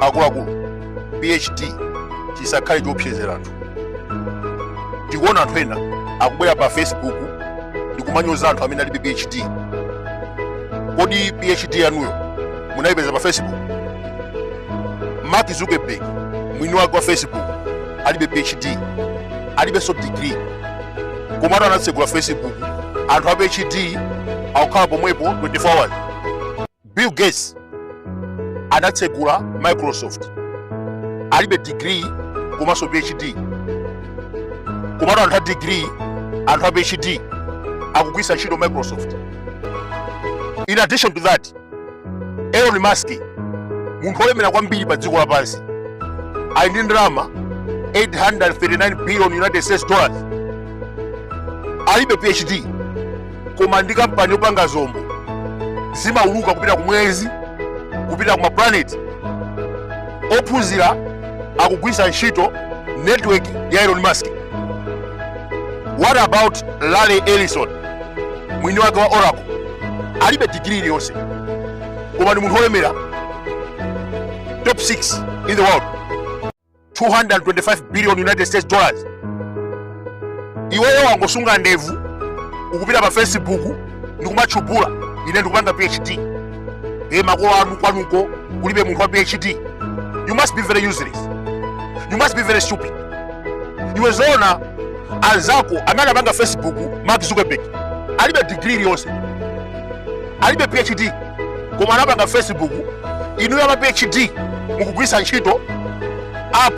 akuluakulu phd chisakhale chiopsezera anthu tikuona anthu ena akubwera pa facebook ndikumanyoza anthu amene alibe phd kodi phd yanuyo munayipeza pa facebook mark zuckerberg mwini wake wa facebook alibe phd alibenso degree komatu anatsegula facebook anthu a phd akukhala pomwepo 24 hours bill gates anatsegula microsoft alibe degree komanso phd komatu anthu a degree anthu a phd akugwiritsa ntchito microsoft in addition to that Elon Musk munthu wolemera kwambiri pa dziko lapansi ali ndi ndalama 839 billion United States dollars alibe PhD koma ndi kampani yopanga zombo zimauluka kupita ku mwezi kupita ku maplaneti ophunzira akugwiritsa ntchito network ya Elon Musk what about larry ellison mwini wake wa oracle alibe digiri iliyonse koma ndi munthu wolemera top 6 in the world 225 billion united states dollars iweyo wangosunga ndevu ukupita pa facebook ndikumatchubula ine ndikupanga phd e makolo anu kwanuko kulibe munthu wa phd you must be very useless you must be very stupid iwe zoona anzako amene anapanga facebook mark zuckerberg alibe degree iliyonse alibe phd koma anapanga facebook inuyo ama phd mukugwiritsa ntchito app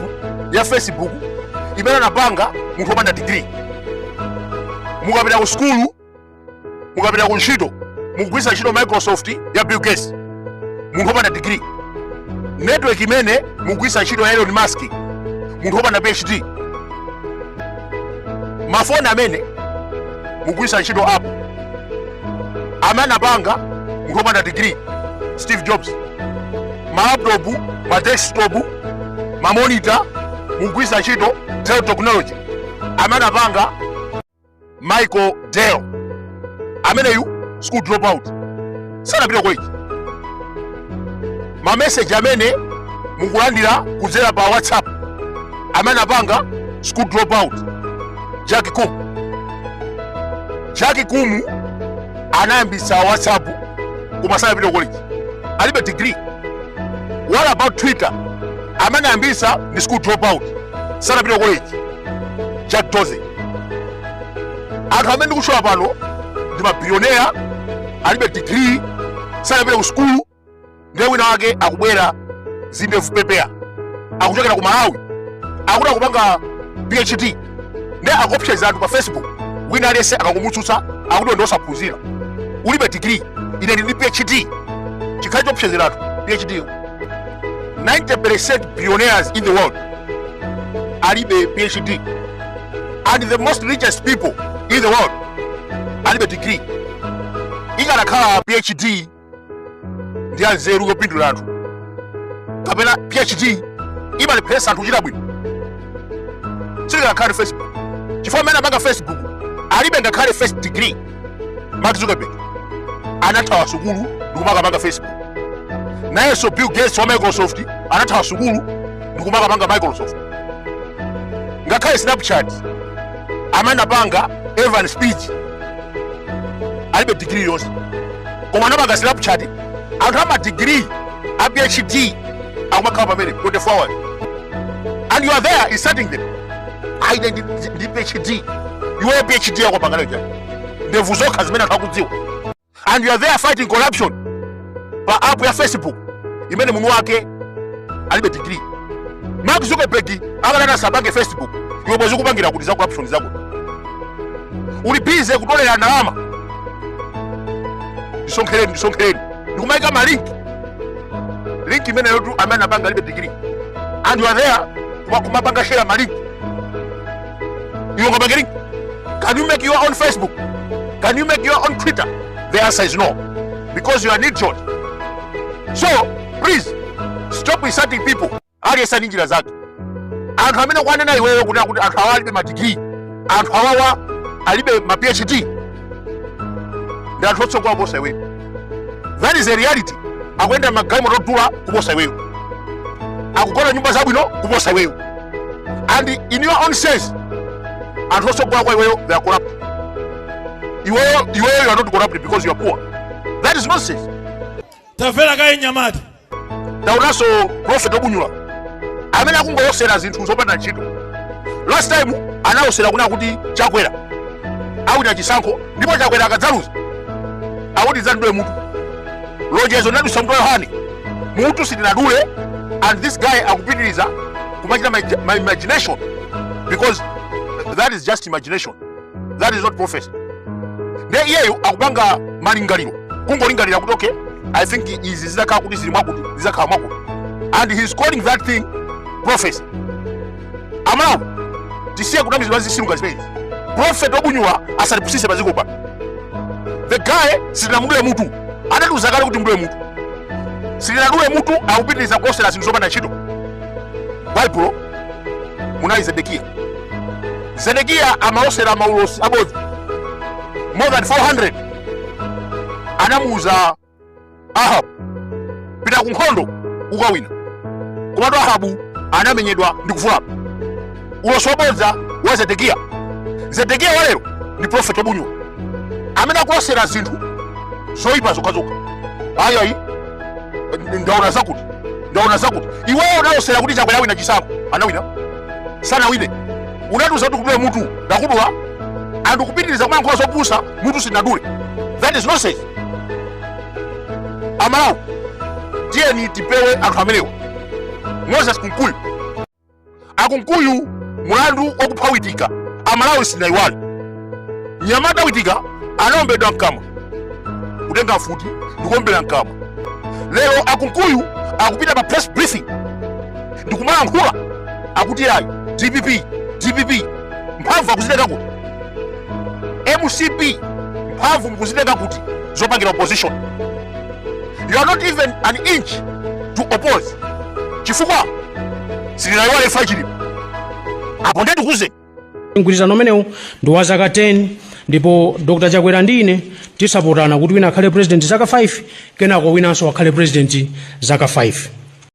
ya facebook imene anapanga munthu wopanda degree mukapita ku sukulu mukapita ku ntchito mukugwiritsa ntchito microsoft ya bill gates munthu wopanda degree network imene mukugwiritsa ntchito ya elon musk munthu wopanda phd mafoni amene mukugwiritsa ntchito apple amene anapanga munthu wopanda degree steve jobs malaptop madesktop mamonita mukugwiritsa ntchito dell technology amene anapanga michael dell ameneyu school dropout sanapita college mameseji amene mukulandira kudzera pa whatsapp amene anapanga school dropout jack koum jack koum anayambitsa whatsapp koma sanapita college alibe degree what about twitter amene anayambitsa ndi school dropout sanapita college jack dorsey anthu amene ndikutchula pano ndi mabilioneya alibe digiri sanapita ku sukulu ndiye wina wake akubwera zindevu pepeya akuchokera ku malawi akuti akupanga phd ndiye akuopseza anthu pa facebook wina aliyense akangomutsutsa akuti ndi osaphunzira ulibe digiri ine ndili ndi phd chikhale choopsezera anthu phd yo 90% billionaires in the world alibe phd and the most richest people in the world alibe degree ikanakhala phd ndi anzeru yopindula anthu kapena phd imalepheresa anthu kuchita bwino sitikanakhala ndi facebook chifukwa amene apanga facebook alibe ngakhale first degree mark zuckerberg anathawa sukulu ndikumakapanga facebook nayenso bill gates wa microsoft anathawa sukulu ndikumakapanga microsoft ngakhale snapchat amene anapanga evan spiegel alibe digiri yonse koma anapanga snapchat anthu amadigiri a phd akumakhala pamene 24 hours and you are there insulting them ayi ndili ndi phd iweyo phd yako pangana cha ndevu zokha zimene anthu akudziwa and you are there fighting corruption pa app ya facebook imene mwini wake alibe degree mark zuckerberg akanati asapange facebook iwe bwezi ukupangira kuti za corruption zako uli busy kutolera ndalama ndisonkhereni ndisonkhereni ndikumayika malinki link imeneyo tu amene anapanga alibe degree and you are there koma kumapanga share ma link iwe ukapanga link can you make your own facebook can you make your own twitter the answer is no because you are an idiot so please stop insulting people aliyense ndi njira zake anthu amene ukuwanena iweyo kuti akuti anthu awa alibe madigiri anthu awawa alibe ma phd ndi anthu otsogola kuposa iweyo that is a reality akuyenda magalimoto odula kuposa iweyo akugona nyumba zabwino kuposa iweyo and in your own sense anthu otsogola kwa iweyo they are corrupt iweyo you are not corrupt because you are poor that is nonsense tamvera kaye mnyamata taonanso profeti obunyula amene akungolosera zinthu zopanda ntchito last time analosera kunena kuti chakwera awina chisankho ndipo chakwera akadzaluza akuti adzandidule mutu lonjezo linadusa mutu wa yohane mutu sitinadule and this guy akupitiriza kumachita ma imagination because that is just imagination that is not prophecy nde iyeyo akupanga malingaliro kungolingalira kuti okay i think izi zizakhala kuti zili mwakuti zizakhala mwakuti and he is calling that thing prophecy amalawi tisiye kunamizidwa zisilu ngati zimenezi prophet obunyula asatipusise paziko pano the guy sitinamudule mutu anatiuza kale kuti mudule mutu sitinadule mutu akupitiriza kulosera zinthu zopanda ntchito baibulo munali zedekiya zedekiya amalosera maulosi abodza more than 400 anamuuza ahabu pita ku nkhondo ukawina komatu ahabu anamenyedwa ndi kuvulala ulosi wabodza wa zedekiya zedekiya walero ndi profeti wabunyula amene akulosera zinthu zoyipa zokhazokha ayayi ndaona zakuti ndaona zakuti iweyo unalosera kuti chakwera wina chisankho anawina sanawine unatiuza kuti kudula mutu ndakudula and kupitiriza kumayankhula zopusa mutu sinadule that is nonsense amalawi tiyeni tipewe anthu amenewo moses kunkuyu akunkuyu mulandu wakupha witika amalawi sanayiwale nyamata witika anaombedwa mkamwa kutenga mfuti ndikuombera mkamwa lero akunkuyu akupita pa press briefing ndikumalankhula akuti ayi dpp dpp mphamvu akuzitenga kuti mcp mphamvu mukuzitenga kuti zopangira opposition you are not even an inch to oppose chifukwa sitinayiwale imfa chilipo apo ndetikuze mgwirizano umenewu ndi wa zaka 10 ndipo dr chakwera ndi ine tidzapatsana kuti wina akhale president zaka 5 kenako winanso akhale president zaka 5